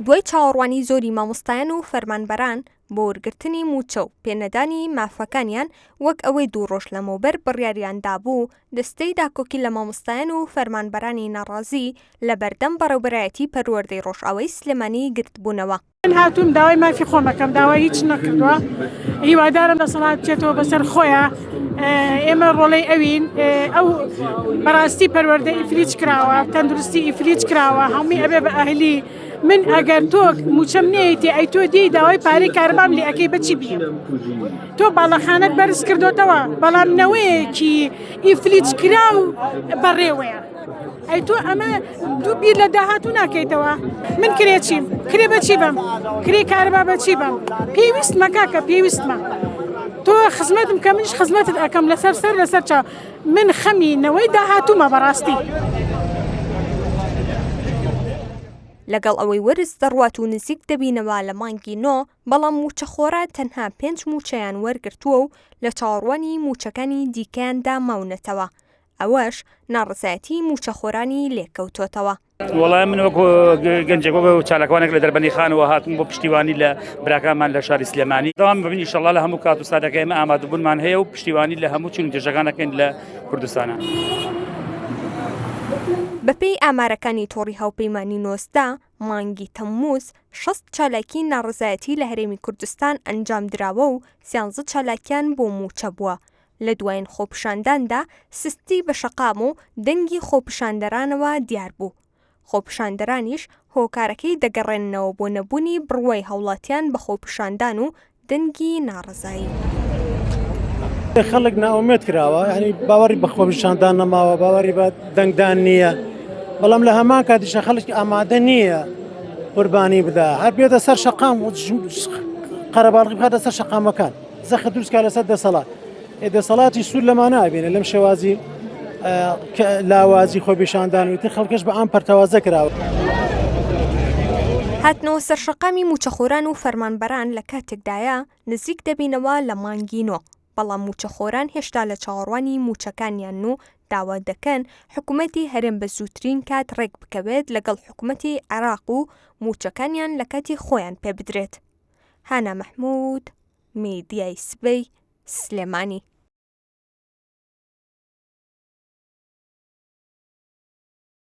دوای چاوەڕوانی زۆری مامۆستایان و فەرمانبەران بۆ وەرگرتنی مووچە و پێنەدانی مافەکانیان وەک ئەوەی دوو ڕۆژ لەمەوبەر بڕیاریان دابوو دەستەی داکۆکی لە مامۆستایان و فەرمانبەرانی ناڕازی لەبەردەم بەڕێوبەرایەتی پەروەردەی ڕۆژئاوای سلێمانی گرتبوونەوە من هاتووم داوای مافی خۆمەکەم داوای هیچ نەکردووە هیوادارم دەسەڵات بچێتەوە بەسەر خۆیە ئێمە ڕۆڵەی ئەوین ئەو بەڕاستی پەروەەردە ئیفریج کراوە تەندروستی ئیفریج کراوە هەمووی ئەبێ بە ئەهلی من ئەگەر تۆ موچەم نێتی ئەی تۆ دی داوای پارەی کاربام لێ ئەەکەی بچی بیم تۆ باڵەخانت بەرز کردوتەوە بەڵام نەوەیەکی ئیفلیج کرا و بەڕێوەیە ئەی تۆ ئەمە دوو بیر لە داهاتوو ناکەیتەوە من کرێ چیم کرێ بەچی بم کرێ کارەبا بەچی بم پێویستمە کاکە پێویستمە تۆ خزمەتم کە منش خزمەتت ئەەکەم لەسەر سەر لەسەر چاو من خەمی نەوەی داهاتوومە بەڕاستی. لەگەڵ ئەوەی وەرز دەڕوات و نزیک دەبینەوە لە مانگی نۆ بەڵام مووچەخۆرە تەنها پێنج مووچەیان وەرگرتووە و لە چاوەڕوانی مووچەکانی دیکەیاندا ماونەتەوە ئەوەش ناڕزایەتی موچەخۆرانی لێکەوتۆتەوە. وڵای من وەکو گەنجێک وەکە چالاکوانێک لە دەربەنی خانەوە هاتن بۆ پشتیوانی لە براکانمان لە شاری سلێمانی داوام ببنی شەڵا لە هەموو کات و سادەکە ئمە ئامادەبوونمان هەیە و پشتیوانی لە هەموو چون دژەکانەکەین لە کوردستانە. بەپێی ئامارەکانی تۆڕی هاوپەیمانی نۆزدە مانگی تەمموز شەست چالاکی ناڕزایەتی لە هەرێمی کوردستان ئەنجام دراوە و سیانزە چالاکیان بۆ موچە بووە لە دوایین خۆپیشانداندا سستی بە شەقام و دەنگی خۆپیشاندەرانەوە دیار بوو، خۆپیشاندەرانیش هۆکارەکەی دەگەڕێننەوە بۆ نەبوونی بڕوای هاوڵاتیان بە خۆپیشاندان و دەنگی ناڕەزایی. خەڵک نائومێد کراوە ینی باوەڕی بە خۆپیشاندان نەماوە باوەڕی بە دەنگدان نییە بەڵام لە هەمان کاتیشە خەڵکی ئامادە نییە قوربانی بدا هەر بێتە سەر شەقام و قەرەباڵغی بخاتە سەر شەقامەکان. زەخت دروست کا لەسەر دەسەڵات دەسەڵاتی سوود لەمانە ئەبێنە لەم شێوازی لاوازی خۆ پیشاندانوی تر خەڵکەش بە ئەم پەرتەوازە کراوە. هاتنەوە سەرشەقامی موچەخۆران و فەرمانبەران لە کاتێکدایە نزیک دەبینەوە لە مانگی نۆ بەڵام موچەخۆران هێشتا لە چاوەڕوانی موچەکانیان و داوا دەکەن حکوومەتی هەرێم بە زووترین کات ڕێک بکەوێت لەگەڵ حکوومەتی عێراق و موچەکانیان لە کاتی خۆیان پێ بدرێت. هانا محمود میدیای سبەی سلێمانی